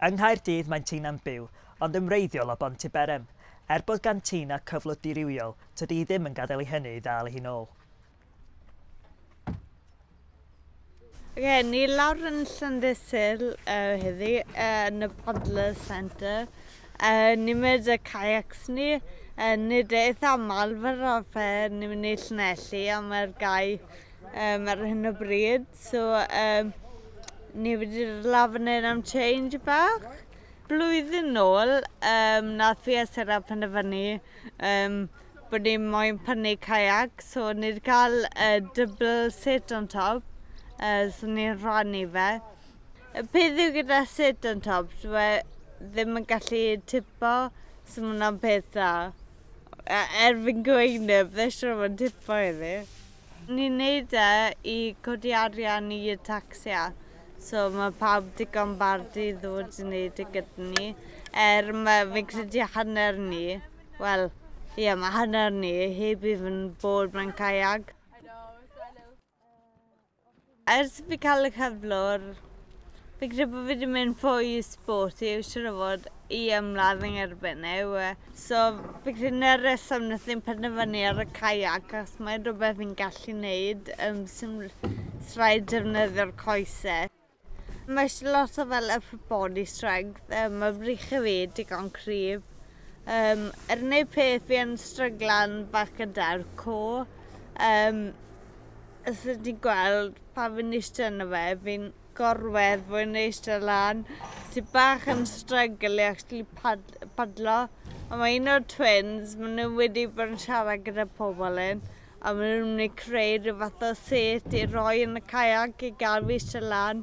Yng Nghaerdydd mae Tina'n byw, ond yn wreiddiol o Bontyberem. Er bod gan Tina cyflwr dirywiol, tydi hi ddim yn gadael i hynny ei ddal hi'n ôl. Gen ni lawr yn Llandysul uh, heddi uh, yn y Paddler Centre. Uh, ni'n mynd y kayaks ni. Uh, nid eith amal fel arfer ni'n mynd i Llanelli a mae'r gau um, ar hyn o bryd. So, um, ni wedi'r lafnau am change bach. Blwyddyn nôl, um, nath fi a Sarah penderfynu um, bod ni moyn prynu kayak, so ni wedi cael uh, double set on top, uh, so ni'n rhannu fe. Y peth yw gyda set on top, dwi e ddim yn gallu tipo, so mae hwnna'n peth dda. Er fi'n gweud neb, ddysio mae'n tipo iddi. Ni'n neud e i codi arian i y tacsia so ma' pawb digon bardu i ddod i neud e gyda ni er ma' fi'n credu hanner ni wel ie ma' hanner ni heb even bod mewn cajag. Ers i fi cael y cyflwr, fi'n credu bod fi 'di mynd fwy i sport i siŵr o fod i ymladd yn erbyn e yw e. So fi'n credu 'na'r rheswm wnaethon ni penderfynu ar y kayak achos mae'n rhywbeth fi'n gallu wneud yym sim rhaid defnyddio'r coese. Mae isie lot o fel upper body strength yym ma' brych i fi digon cryf. Yym yr unig peth fi yn stryglan bach gyda yw'r core yym Os ydych chi'n gweld pan fi'n eistedd yna fe, fi'n gorwedd fwy yn eistedd lan. Sy'n bach yn strygl i actually pad padlo. Ond mae un o'r twins, maen nhw wedi bod yn siarad gyda pobl un, a maen nhw'n mynd i creu rhyw fath o set i roi yn y kayak i gael fi eistedd lan.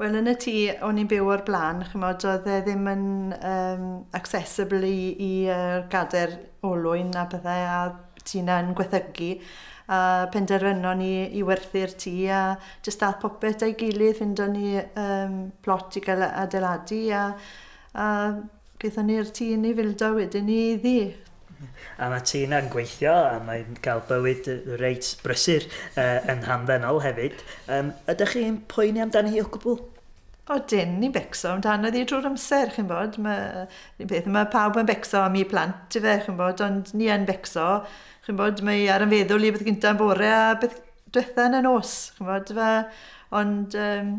Wel yn y tŷ o'n i'n byw o'r blaen ch'mod oedd e ddim yn yym accessible i i yy gader olwyn a pethe a tŷ 'na'n gwethygu a penderfynon ni i werthu'r tŷ a jyst ath popeth a'i gilydd ffindo'n ni yym plot i ga'l yy adeiladu a a Gaethon ni'r tŷ yn ei fildio wedyn i Ddu. A mae ti yna'n gweithio a mae'n cael bywyd reit brysur yn hamddenol hefyd. Yym, ydych chi'n poeni amdani hi o gwbl? Odyn, ni'n becso amdano ddi drwy'r amser, chi'n bod. Mae, un peth, mae pawb yn becso am eu plant, ife, chi'n bod, ond ni yn becso. Chi'n bod, mae ar yn feddwl i beth gyntaf yn bore a beth diwetha yn y nos, chi'n bod, ife. Ond, um,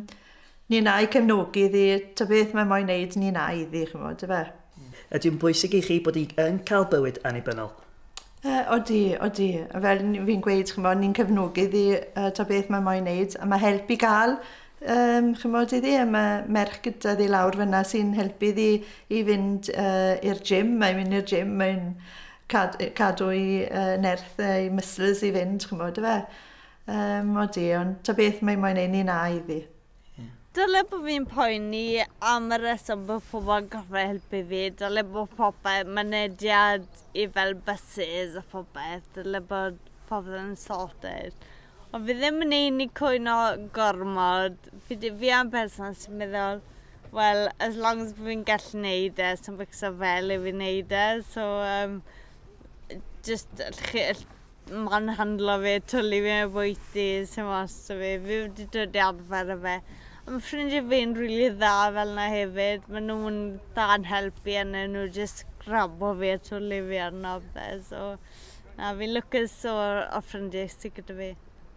Ni'n a'i cefnogi iddi, ta beth mae moyn neud ni'n a'i iddi, ch'mod, yfe? Ydy'n bwysig i chi bod hi yn cael bywyd annibynnol? Uh, odi, odi. A fel fi'n gweud, chymod, ni'n cefnogi iddi uh, ta beth mae moyn neud. A mae help i gael, um, chymod, iddi. A mae merch gyda ddi lawr fyna sy'n helpu iddi i fynd uh, i'r gym. Mae'n mynd i'r gym, mae'n cad, cadw i uh, nerth uh, i muscles i fynd, chymod, fe. Um, o di, ond ta beth mae moyn ei ni'n a iddi. Dyle bod fi'n poeni am y reswm bod pobl yn gorfod helpu fi. Dyle bod popeth, mynediad i fel buses a phobeth. Dyle bod popeth yn sorted. Ond fi ddim yn ein i cwyno gormod. Fi, fi am person sy'n meddwl, well, as long as fi'n gallu neud e, sy'n fixo fel i fi'n neud e. So, um, just, Mae'n handlo fi, twli fi o bwyty, sim ots 'da fi, fi wedi dod i arfer â fe. A ma' ffrindie fi'n rili dda fel 'na hefyd, ma' nw'n dda yn helpu a newn nw jyst grabo fi a twli fi arno a pethe so na fi'n lwcus o o ffrindie sy gyda fi.